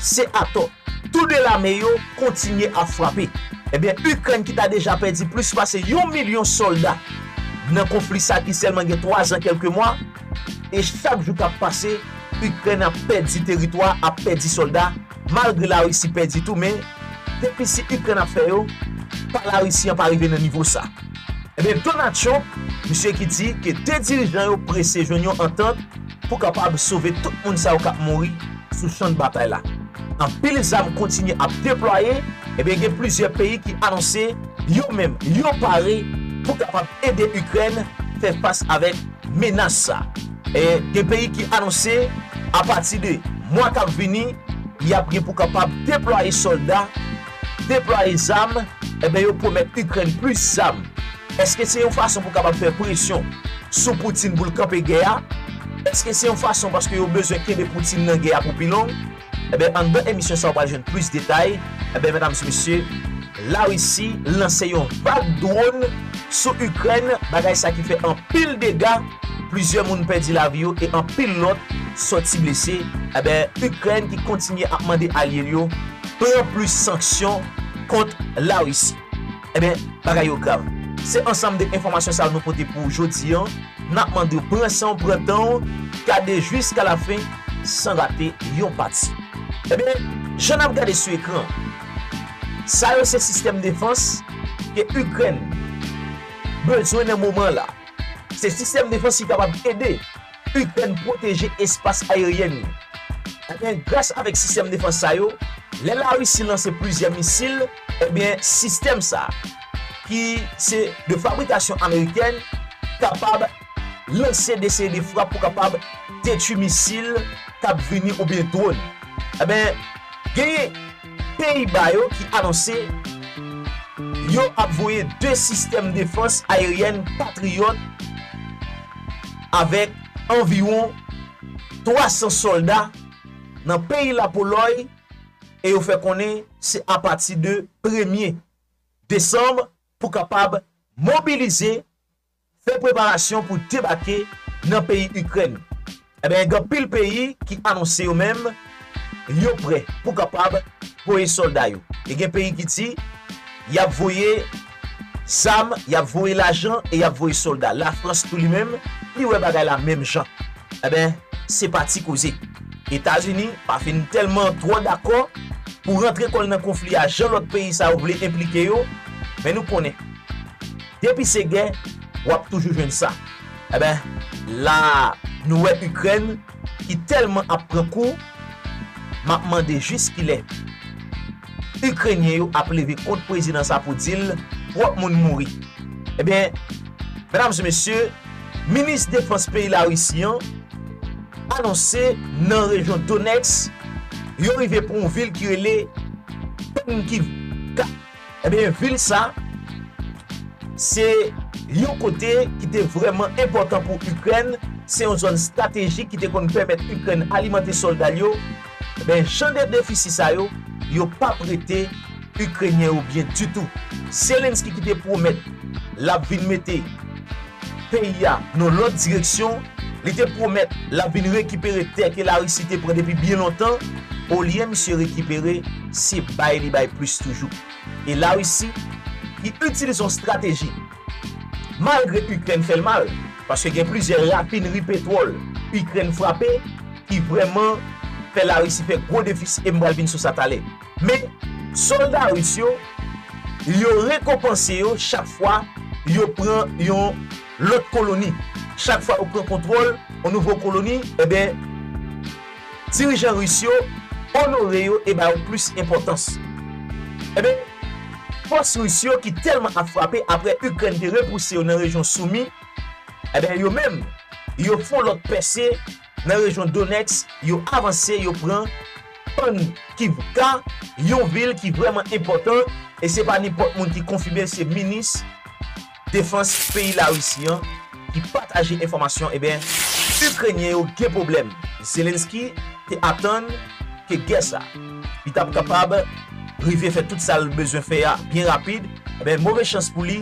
Se atò. Tou 2 lame yo kontinye ap frape. Ebyen Ikrèn ki ta deja pèdi plis pase yon milyon sòlda nan konfli sa ki sèlman gen 3 zan kèlke mwa, e chak jou kap pase Ikrèn ap pèdi teritwa, ap pèdi sòlda, malgre Larisi pèdi tou men defisi Ikrèn ap fè yo pa Larisi an pa rive nan nivo sa. Ebyen Donald Trump, misye ki di ke 2 dirijan yo prese jwenn yon antant, pou kapab sove tout moun sa yo k ap mouri sou chan batay la. Anpil zam kontinye ap deplwaye, ebyen gen plizyè peyi ki anonse yo menm yo pare pou kapab ede Ikrèn fè fas avèk menas sa. E gen peyi ki anonse apati de mwa k ap vini y ap gen pou kapab deplwaye sòlda, Deplwaye zam, enben yo pwomèt Ikrèn plis zam. Èske se yon fason pou kapab fè presyon sou Putin pou l kanpe gè a? Èske se yon fason paske yo bezwen kenbe Putin nan gè a pou pi long? Enben anndan emisyon sa ou pral jwenn plis detay. Enben medam e mesye, Larisi lanse yon vag dwòn sou Ikrèn, bagay sa ki fè anpil dega, plizyè moun pèdi lavi yo e anpil lòt sòti blese. Enben Ikrèn ki kontinye ap mande alye l yo Pran plis sanksyon kont Larisi. Ebyen, bagay yo grav. Se ansanm de enfòmasyon sa yo nou pote pou ou jodi an. N ap mande w pran san w, pran tan w, gade jiska lafen san rate yon pati. Ebyen, jan n ap gade sou ekran an, sa yo se sistèm defans ke Ikrèn bezwen nan moman an la. Se sistèm defans ki kapab ede. Ikrèn pwoteje espas aeryen li. Ebyen gras avèk sistèm defans sa yo, lè Larisi lanse plizyè misil, ebyen sistèm sa, ki se de fabrikasyon amerikèn, kapab lanse de seri de frap pou kapab detwi misil k ap vini oubyen dwòn. Ebyen genyen peyi ba yo ki anonse yo ap voye 2 sistèm defans aeryen Patriot. Avèk anviwon 300 sòlda nan peyi Lapolòy e yo fè konnen se apati de premye desanm pou kapab mobilize, fè preparasyon pou debake nan peyi Ikrèn. Enben gen anpil peyi ki anonse yo menm. Yo prè pou kapab voye solda yo. E gen peyi ki di yap voye zam, yap voye lajan e yap voye solda. La Frans tou li menm, li wè bagay la menm jan. Enben, se pa ti koze. Etazini pa fin tèlman twò dakò pou rantre kò l nan konfli a jan lòt peyi sa yo vle enplike yo, men nou konnen depi se gè wap toujou jwenn sa. Enben, la nou wè Ikrèn ki tèlman ap pran kou, m ap mande jis kilè Ikrenyen yo ap leve kont prezidan sa pou di l twòp moun mouri. Ebyen, medam e mesye, minis defans peyi Larisi an anonse nan rejyon Donetsk yo rive pran yon vil ki rele Penkiv ka. Ebyen vil sa se yon kote ki te vrèman enpòtan pou Ikrèn, se yon zòn stratejik ki te konn pèmèt Ikrèn alimante sòlda l yo, ebyen jan de defisi sa yo, yo pap rete Ikrenyen yo byen ditou. Zelensky ki te pwomèt lap vin mete. peyi a nan lòt direksyon, li te pwomèt l ap vin rekipere tè ke Larisi te pran depi byen lontan, olye misye rekipere, se bay li bay plis toujou. E Larisi, ki itilize yon strateji, malgre Ikrèn fè l mal, paske gen plizyè rafinri petwòl Ikrèn frape ki vrèman fè Larisi fè gwo defisi e m pral vin sou sa talè. Men, sòlda ris yo, yo rekonpanse yo chak fwa yo pran yon lòt koloni. Chak fwa yo pran kontwòl yon nouvo koloni, enben, dirijan ris yo onore yo e ba yo plis enpòtans. Enben, fòs ris yo ki tèlman ap frape apre Ikrèn te repouse yo nan rejyon Soumy, enben, yo menm, yo fon lòt pèse, nan rejyon Donetsk, yo avanse, yo pran Pannkivka, yon vil ki vrèman enpòtan, e se pa nenpòt moun ki konfime, se minis defans peyi Larisi an ki pataje enfòmasyon, eben, Ikrenyen yo gen pwoblèm. Zelensky te atann ke gè sa, li t ap kapab rive fè tout sa l bezwen fè a byen rapid, eben, move chans pou li,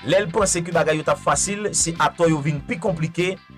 lè l panse ke bagay yo t ap fasil, se atò yo vin pi konplike,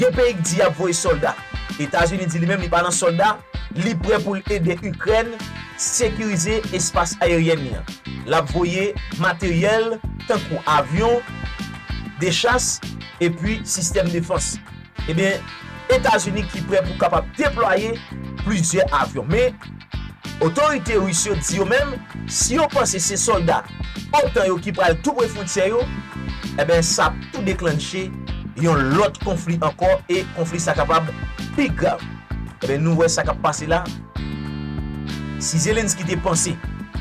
Gen peyi k di yap voye solda. Etazini di li menm li pa nan solda, li prè pou l ede Ikrèn sekirize espas ayeryèn li an. Lap voye materyèl tankou avyon de chas epi sistèm defans. Ebyen Etazini ki prè pou kapab deplwaye plizyè avyon. Men. Otorite Ris yo di yo menm si yo panse se sòlda otan yo ki pral tou pre fwontyè yo, enben sa ap tou deklannche yon lòt konfli ankò e konfli sa kapab pi grav. Enben nou wè sa k ap pase la, si Zelensky te panse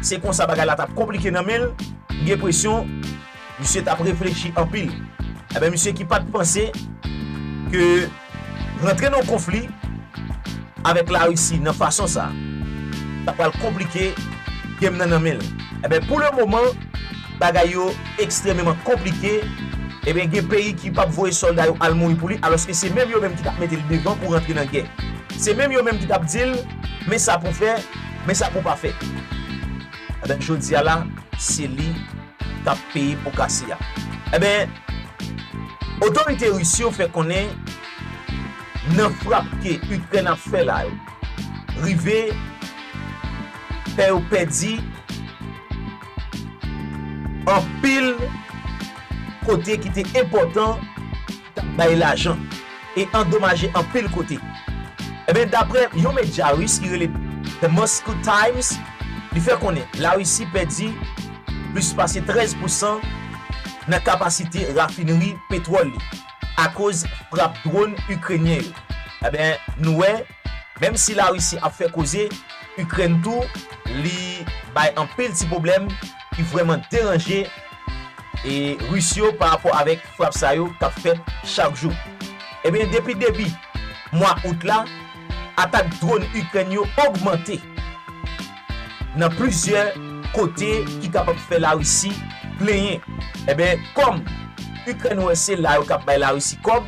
se konsa bagay la t ap konplike nan men l, m gen presyon Misye tap reflechi anpil. Enben misye ki pat panse ke rantre nan yon konfli avèk la Russie nan fason sa ta pral konplike game nan nan menl. Enben pou le moman bagay yo ekstrememan konplike enben gen peyi ki pap voye solda yo al mouri pou li aloske se menm yo menm ki tap metel devan pou rantre nan gè. Se menm yo menm ki tap dil men sa pou fè, men sa pou pa fè. Enben jodia la se li kap peye po kase a. Enben, otorite ris yo fè konnen nan frap ke Ikrèn ap fè la yo rive fè yo pèdi anpil kote ki te enpòtan, bay lajan e andomaje anpil kote. Enben, dapre yon medya ris ki rele The Moscow Times, li fè konnen Larisi pèdi plis pase 13 pousan nan kapasite rafinri petwòl li akoz frap dwòn Ikrenyen yo. Enben, nou wè. Menm si la Russie ap fè koze, Ukraine tou li bay anpil ti pwoblèm ki vrèman deranje e Russe yo pa rapò avèk frap sa yo kap fèt chak jou. Ebyen depi debi mwa Out la, atak drone Ukraine yo ogmante nan plizyè kote ki kapab fè la Russie plenyen. Ebyen kòm Ukraine wè se la yo kap bay la Russie kòb,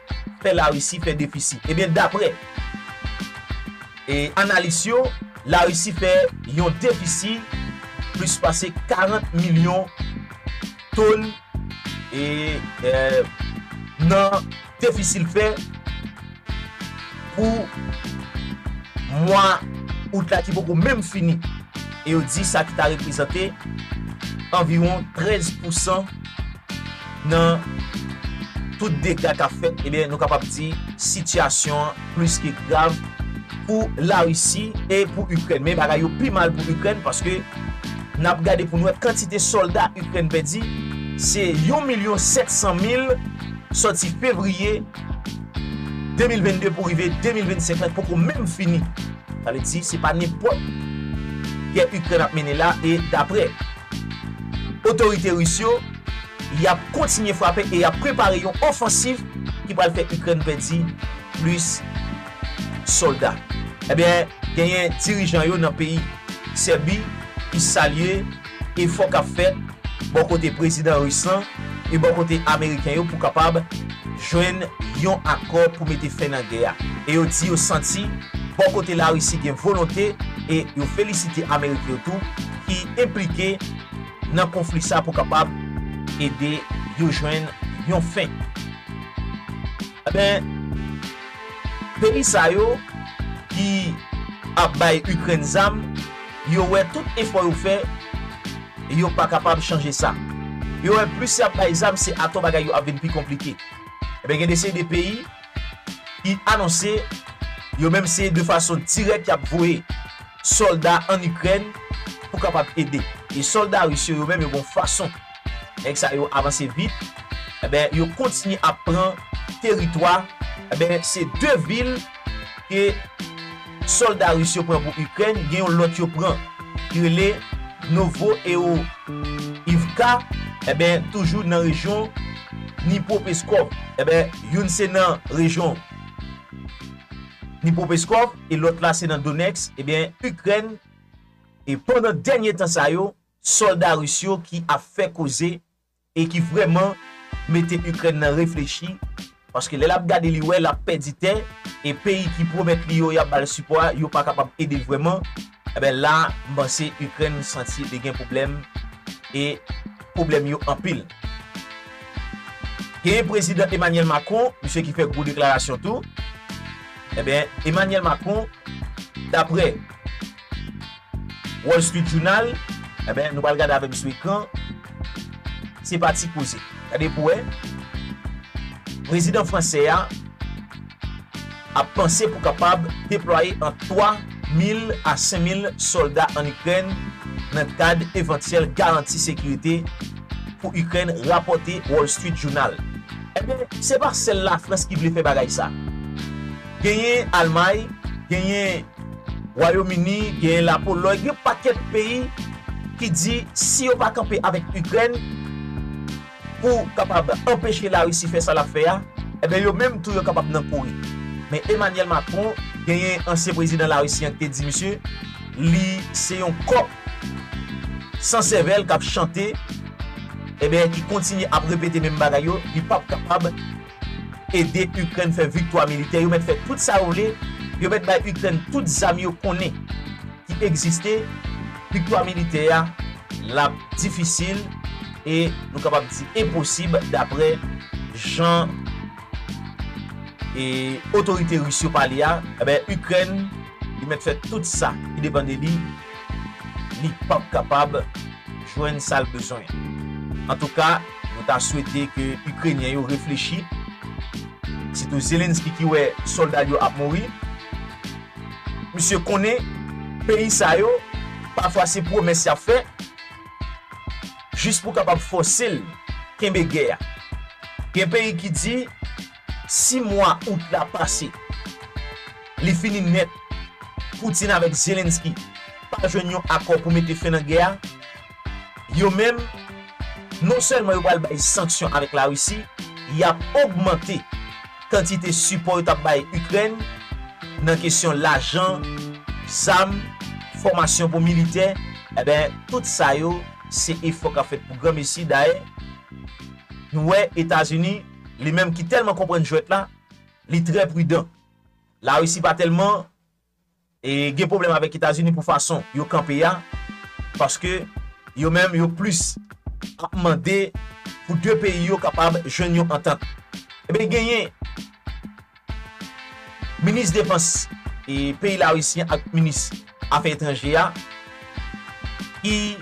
pè Larisi fè defisi. Ebyen daprè analis yo, Larisi fè yon defisi plis pase 40 milyon ton nan defisi l fè pou mwa Out la ki poko menm fini e yo di sa ki ta reprezante anviwon 13 pousan Nan tout dega kap fèt, ebyen nou kapab di sitiyasyon an plis ke grav pou Larisi e pou Ikrèn. Men bagay yo pi mal pou Ikrèn paske nap gade pou nou wè kantite sòlda Ikrèn pèdi se yon milyon 700 mil sòti fevriye 2022 pou rive 2025 la ki poko menm fini. Sa vle di se pa nenpòt gè Ikrèn ap mennen la e daprè otorite Ris yo. Y ap kontinye frape e y ap prepare yon ofansiv ki pral fè Ikrèn pèdi plis sòlda. Ebyen, genyen dirijan yo nan peyi Sèbi ki salye efò k ap fèt bò kote prezidan ris lan e bò kote ameriken yo pou kapab jwenn yon akò pou mete fen nan gè a. E yo di yo santi bò kote Larisi gen volonte e yo felisite Ameriken yo tou ki enplike. nan konfli sa pou kapab ede yo jwenn yon fen. Enben, peyi sa yo ki ap bay Ikrèn zam, yo wè tout efò yo fè, yo pa kapab chanje sa. Yo wè plis y ap bay zam, se atò bagay yo ap vin pi konplike. Enben gen de seri de peyi. ki anonse yo menm se de fason dirèk y ap voye sòlda ann Ikrèn pou kapab ede. E sòlda ris yo, yo menm yo gon fason nèg sa yo avanse vit, enben yo kontinye ap pran teritwa, enben se 2 vil ke. Solda Ris yo pran pou Ikrèn gen yon lòt yo pran ki rele Novoeoivka enben toujou nan rejyon Dnipropeskov enben youn se nan rejyon Dnipropeskov e lòt la se nan Donetsk enben Ikrèn e pandan dènye tan sa yo solda Ris yo ki ap fè koze e ki vrèman mete Ikrèn nan reflechi paske lè lap gade li wè lap pèdi tè e peyi ki pwomèt li yo yap bal sipò a yo pa kapab edel vrèman enben la m panse Ikrèn santi li gen pwoblèm e pwoblèm yo anpil. Genyen prezidan Emanyèl Makron misye ki fè gwo deklarasyon tou enben Emanyèl Makron daprè. Wall Street Jounal, Enben, nou pral gade avè m sou ekran. Se pa ti koze. Gade pou wè. Prezidan fransè a ap panse pou kapab deplwaye ant 3 mil a 5 mil sòlda ann Ikrèn nan kad evantyèl garanti sekirite pou Ikrèn, rapòte Wall Street Jounal. Enben, se pa sèl Lafrans ki vle fè bagay sa. Genyen Almay, genyen Wayom Ini, genyen Lapolòy, gen yon pakèt peyi ki di si yo pa kanpe avèk Ikrèn pou kapab anpeche Larisi fè sa l ap fè a, enben yo menm tou yo kapab nan kouri. Men Emanyèl Makron, genyen ansyen prezidan Larisi an ki te di misye li se yon kòk san sèvèl k ap chante, enben ki kontinye ap repete menm bagay yo, li p ap kapab. Ede Ukraine fè viktwa militè yo mèt fè tout sa yo vle yo mèt bay Ukraine tout zam yo konnen ki egziste viktwa militè a lap difisil e nou kapab di enposib daprè jan otorite Russe yo pale a enben Ukraine li mèt fè tout sa ki depan de li li pap kapab jwenn sal bezwen antouka. Nou ta swete ke Ikrenyen yo reflechi, sitou Zelensky ki wè sòlda l yo ap mouri. Misye konnen peyi sa yo pafwa se pwomès y ap fè jis pou kapab fòse l kenbe gè a. Gen peyi ki di si mwa out la pase, li fini nèt, Putin avèk Zelensky pa jwenn yon akò pou mete fen nan gè a, Yo menm, non sèlman yo pral bay sanksyon avèk Larisi, y ap ogmante kantite sipò yo t ap bay Ikrèn nan kesyon lajan, zam, fòmasyon pou militè, enben tout sa yo se efò k ap fèt pou granmesi. Dayè, nou wè Etazini, li menm ki tèlman konprann jwèt la, li trè pridan. Larisi pa tèlman gen pwoblèm avèk Etazini pou fason yo kanpe a paske yo menm yo plis ap mande pou 2 peyi yo kapab jwenn yon antant. Enben genyen minis defans peyi Larisi an ak minis afè etranjè a ki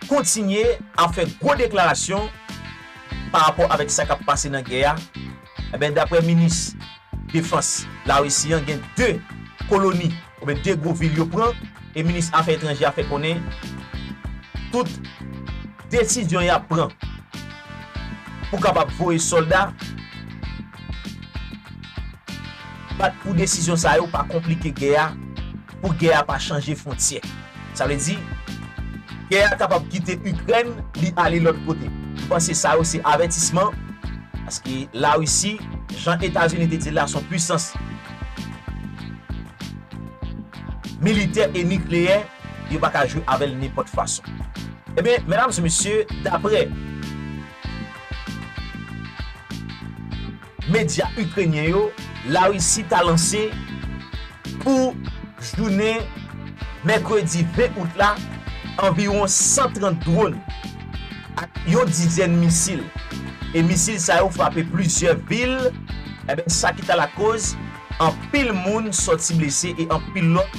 kontinye ap fè gwo deklarasyon pa rapò avèk sa k ap pase nan gè a Enben, dapre minis defans Larisi an, gen 2 koloni oubyen 2 gwo vil yo pran e minis afè etranjè a fè konnen tout desizyon y ap pran pou kapab voye sòlda bat pou desizyon sa yo pa konplike gè a. pou gè a pa chanje fwontyè. Sa vle di, gè a kapab kite Ikrèn, li ale lòt kote. M panse sa yo se avètisman, paske Larisi, jan Etazini te di l la, s on pwisans militè e nikleyè, yo pa ka jwe avè l nenpòt fason. Ebyen, medam e mesye, daprè. Medya Ikrenyen yo, Larisi ta lanse pou jounen mèkredi 20 out la anviwon 130 dronn ak yon dizèn misil e misil sa yo frape plizyè vil sa ki ta lakoz anpil moun sòti blese e anpil lòt